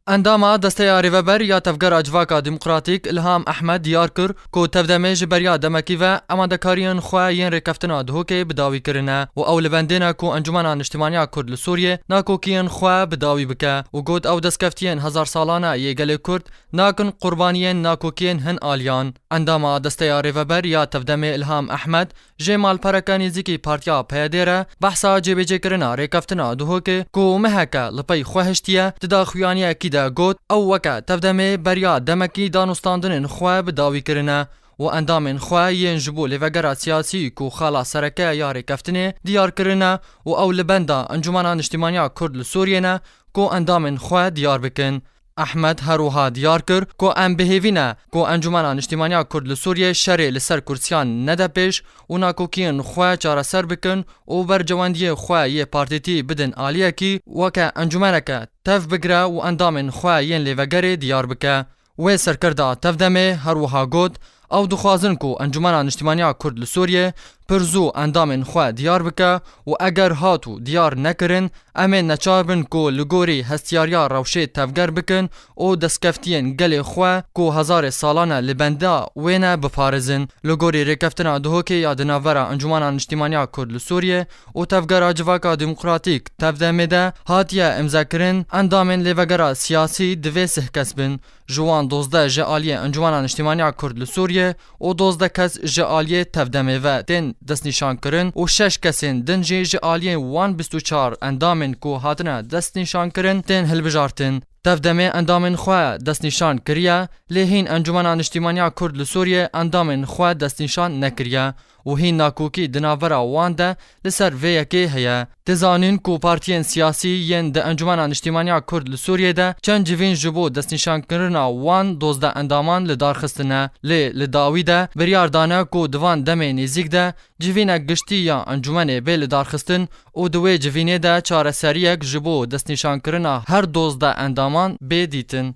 Endama desteya Rêveber ya Tevgera Civaka Demokratîk Îlham Ehmed diyar kir ku tevdemê ji beriya demekî ve amadekariyên xwe yên rêkeftina Duhokê bi dawî kirine û ew li bendê ne ku Encûmena Niştîmaniya Kurd li Sûriyê nakokiyên xwe bi dawî bike û got ew destkeftiyên hezarsalane yê gelê Kurd nakin qurbaniyên nakokiyên hin aliyan. Endama desteya Rêveber ya Tevdemê Îlham Ehmed Ji malpereke nêzîkî Partiya PYD'ê re behsa cêbêcêkirina rêkeftina Duhokê ku meheke li pey xwe hiştiye, di daxuyaniyekî de got, Ew weke tevdemê beriya demekî danûstandinên xwe bi dawî kirine û endamên xwe yên ji bo lêvegera siyasî ku xala sereke ya rêkeftinê diyar kirine û ew li benda Encûmena Niştîmaniya Kurd li Sûriyê ne ku endamên xwe diyar bikin. Ehmed her wiha diyar kir ku em bi hêvî ne ku Encûmena Niştîmaniya Kurd li Sûriyê şerê li ser kursiyan nede pêş û nakokiyên xwe çareser bikin û bercewendiyê xwe yê partîtî bidin aliyekî weke encûmeneke tev bigire û endamên xwe yên lêvegerê diyar bike. Wê serkirda tevdemê her wiha got, Ew dixwazin ku Encûmena Niştimaniya Kurd li Sûriyê pir zû endamên xwe diyar bike û eger hat û diyar nekirin em ê neçar bin ku li gorî hestiyariya rewşê tevger bikin û destkeftiyên gelê xwe ku hezarê salan e li benda wê ne biparêzin. Li gorî rêkeftina Duhokê ya di navbera Encûmena Niştimaniya Kurd li Sûriyê û Tevgera Civaka Demokratîk, Tevdemê, de hatiye îmzekirin, endamên lêvegera siyasî divê sih kes bin. Ji wan dozdeh ji aliyê Encumena Niştîmaniya Kurd li Sûriyê û dozdeh kes ji aliyê tevdemê ve tên destnîşankirin û şeş kesên din jî ji aliyê wan bîst û çar endamên ku hatine destnîşankirin tên hilbijartin. Tevdemê endamên xwe destnîşan kiriye, lê hîn Encumena Niştîmaniya Kurd li Sûriyê endamên xwe destnîşan nekiriye. û hîn nakokî di navbera wan de li ser vê yekê heye. Dê zanîn ku partiyên siyasî yên di Encûmena Niştîmaniya Kurd li Sûriyê de çend civîn ji bo destnîşankirina wan dozdeh endaman li dar xistine, lê li dawî de biryar dane ku di van demê nêzîk de civînek giştî ya encûmenê bê lidarxistin û di wê civînê de çareseriyek ji bo destnîşankirina her dozdeh endaman bê dîtin.